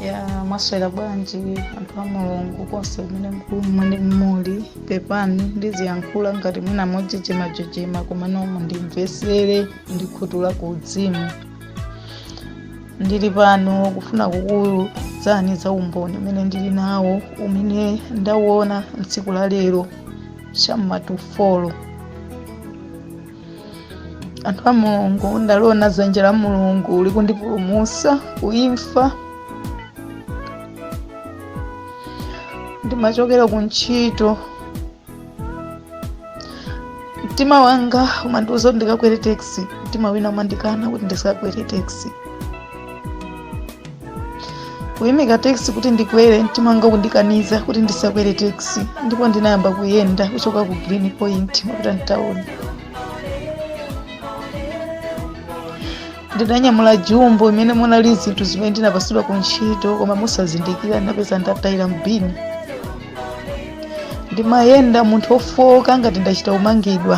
ya mwaswera bwanji anthu a mulungu konse kumene muli mmene mmuli pepani ndiziyankhula ngati mwina monjenjemanjenjema komano mundimvesere ndikhutula ku uzimu ndili pano kufuna kukuuzani za umboni umene ndili nawo umene ndawona tsiku la lero cham'matufolo anthu a mulungu ndaliona dzanja la mulungu likundipulumusa ku imfa ndimachokera ku ntchito mtima wanga umandiuza kuti ndikakwere taxi mtima wina umandikana kuti ndisakakwere taxi kuyimika taxi kuti ndikwere mtima wanga kundikaniza kuti ndisakwere taxi ndipo ndinayamba kuyenda kuchoka ku green point kupita mtawuni ndinanyamula jumbo imene munali zinthu zimene ndinapasidwa ku ntchito koma mosazindikira ndinapeza ndatayira mbini ndimayenda munthu wofooka ngati ndachita kumangidwa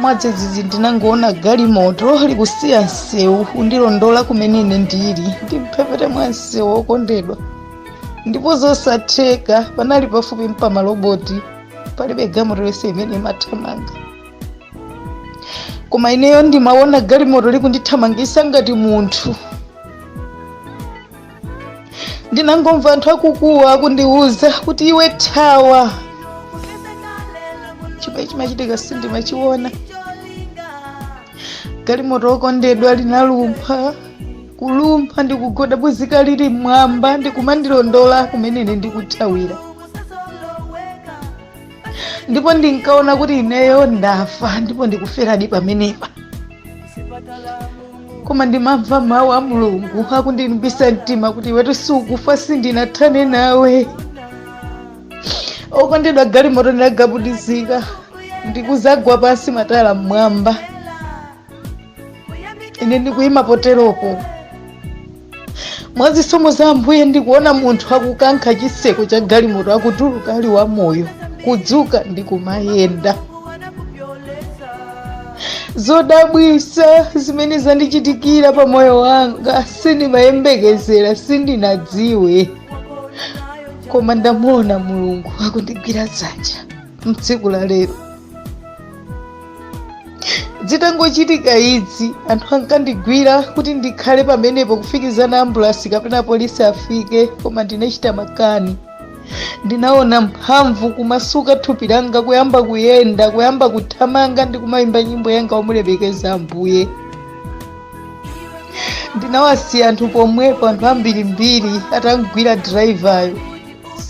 mwadzidzidzi ndinangoona galimoto likusiya msewu kundilondola kumene ine ndili m'mphepete mwa msewu okondedwa ndipo zosatheka panali pafupi mpamaloboti palibe galimoto yonse imene imathamanga koma ineyo ndimaona galimoto likundithamangisa ngati munthu ndinangomva anthu akukuwa akundiwuza kuti iwe thawa chimene chimachitika sindimachiona galimoto okondedwa linalumpha kulumpha ndikugadabuzika lili mmwamba ndikumandilondola kumene ine ndikuthawira ndipo ndinkaona kuti ineyo ndafa ndipo ndikuferadi pamenepa koma ndimamva mawu a mulungu akundilimbisa mtima kuti iwetu sukufa sindinathane nawe okondedwa galimoto inagadabuzika ndikuzagwa pansi matayala mmwamba ine ndikuyima poteropo mwa zisomo za ambuye ndikuona munthu akukankha chiseko cha galimoto akutuluka ali wamoyo kudzuka ndi kumayenda zodabwisa zimene zandichitikira pa moyo wanga sindimayembekezera sindinadziwe koma ndamuona mulungu akundigwira dzanja mtsiku la lero zitangochitika izi anthu ankandigwira kuti ndikhale pamenepo kufikizana ambulasi kapena polisi afike koma ndinachita makani ndinaona mphamvu kumasuka thupi langa kuyamba kuyenda kuyamba kuthamanga ndi kumayimba nyimbo yanga womulemekeza ambuye ndinawasiya anthu pomwepo anthu ambirimbiri atamugwira dalaivayo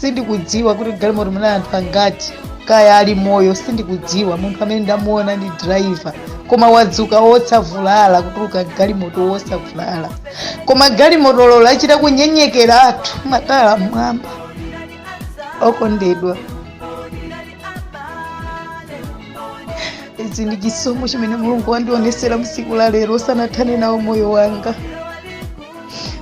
sindikudziwa kuti m'galimoto munali anthu angati kaya ali moyo sindikudziwa munthu amene ndamuona ndi driver koma wadzuka wosavulala kutuluka m'galimoto wosavulala koma galimotoyo yachita kunyenyekera matayala m'mwamba okondedwa ichi ndi chisomo chimene mulungu wandionesera msiku la lero sanathane nawo moyo wanga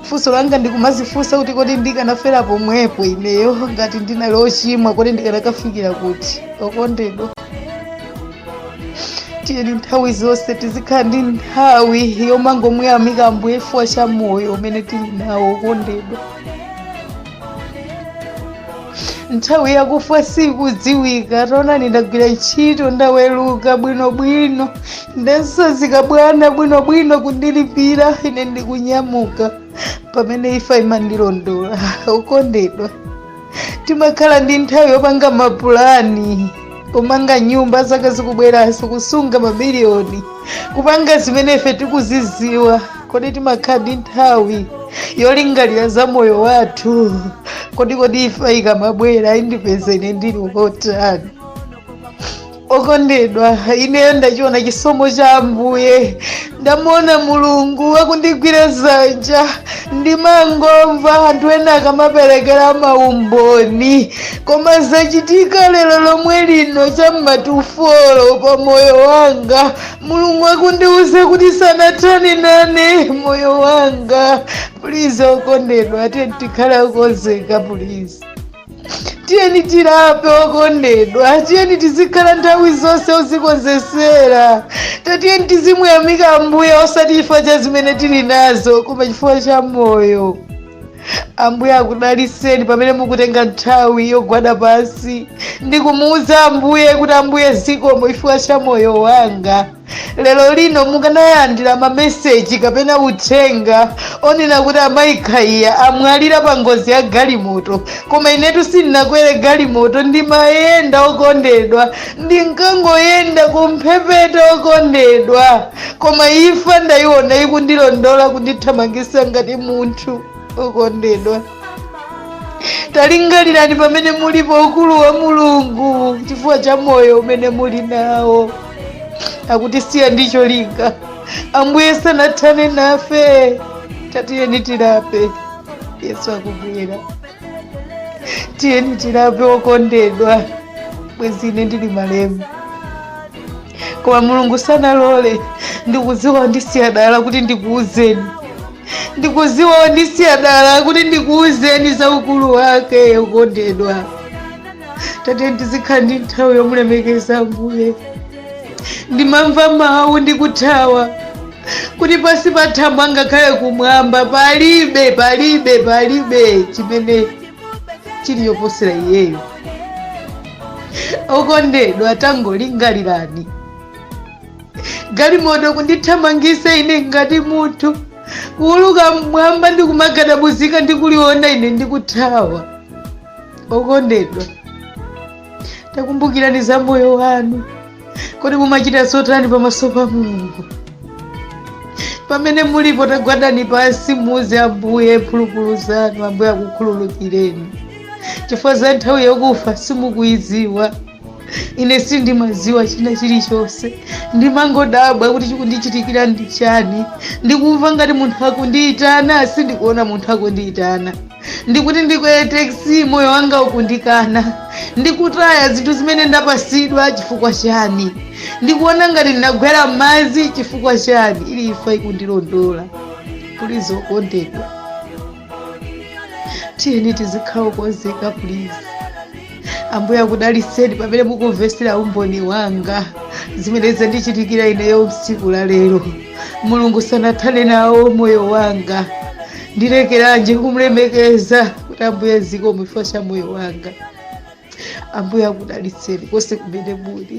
funso langa ndikumazifunsa kuti kodi ndikanafera pomwepo ineyo ngati ndinali ochimwa kodi ndikanakafikira kuti okondedwa tiyeni nthawi zonse tizikhala ndi nthawi yomangomuyamika ambuye chifukwa cha moyo umene tili nawo okondedwa nthawi yakufa sikudziwika taonani ndagwira ntchito ndaweluka bwinobwino ndatsanzika bwana bwinobwino kundilipira ine ndikunyamuka pamene imfa imandilondola okondedwa timakhala ndi nthawi yopanga mapulani kumanga nyumba zaka zikubweranso kusunga mabiliyoni kupanga zimene ife tikuziziwa Kodi timakhala ndi nthawi yolingalira za moyo wathu? Kodi kodi imfa ikamabwera indipeza ine ndili wotani? Okondedwa, ineyo ndachiona chisomo cha Ambuye, ndamuona Mulungu akundigwira dzanja, ndimangomva anthu ena akamaperekera maumboni, koma zachitika lero lomwe lino cha m'matufolo pa moyo wanga mulungu akundiuza kuti sanathane nane moyo wanga pulizi okondedwa tiyeni tikhale okonzeka pulizi tiyeni tilape okondedwa tiyeni tizikhala nthawi zonse ozikonzesera tatiyeni tizimuyamika ambuye osati chifukwa cha zimene tili nazo koma chifukwa cha moyo ambuye akudaliseni pamene mukutenga nthawi yogwada pansi ndikumuwuza ambuye kuti ambuye zikomo chifukwa cha moyo wanga lero lino mukanalandira mameseji kapena uthenga onena kuti amayi khaiya amwalira pa ngozi ya galimoto koma inetu sindinakwere galimoto ndimayenda okondedwa ndinkangoyenda kumphepete okondedwa koma imfa ndayiona ikundilondola kundithamangisa ngati munthu okondedwa talingalirani pamene mulipo ukulu wa mulungu chifukwa cha moyo umene muli nawo akutisiya ndi cholinga ambuye sanathane nafe tatiyeni tilape yesu akubwera tiyeni tilape okondedwa bwezi ine ndili malemba koma mulungu sanalole ndikudziwa wondisiya dala kuti ndikuuzeni ndikudziwa wondisiya dala kuti ndikuuzeni za ukulu wake okondedwa tatiyeni tizikhala ndi nthawi yomulemekeza ambuye ndimamva mawu ndikuthawa kuti pansi pa thambo angakhale kumwamba palibe palibe palibe chimene chili choposera iyeyo okondedwa tangolingalirani galimoto kundithamangisa ine ngati munthu kuuluka mmwamba ndi kumagadabuzika ndi kuliona ine ndikuthawa okondedwa takumbukirani za moyo wanu kodi mumachita zotani pamaso pa mulungu pamene mulipo tagwadani pansi muuze ambuye mphulupulu zanu ambuye akukhululukireni chifukwa za nthawi yokufa simukuyidziwa ine sindimadziwa china chilichonse ndimangodabwa kuti chikundichitikira ndi chani ndikumva ngati munthu akundiyitana sindikuona munthu akundiyitana ndikuti ndikwere taxi moyo wanga ukundikana ndikutaya zinthu zimene ndapasidwa chifukwa chani ndikuona ngati ndinagwera m'madzi chifukwa chani ili imfa ikundilondola please okondedwa tiyeni tizikhala okonzeka please ambuye akudalitseni pamene mukumvetsera umboni wanga zimene zandichitikira ineyo tsiku la lero mulungu sanathane nao moyo wanga ndilekeranji kumlemekeza kuti ambuye zikomo chifukwa cha moyo wanga ambuye akudalitseni konse kumene muli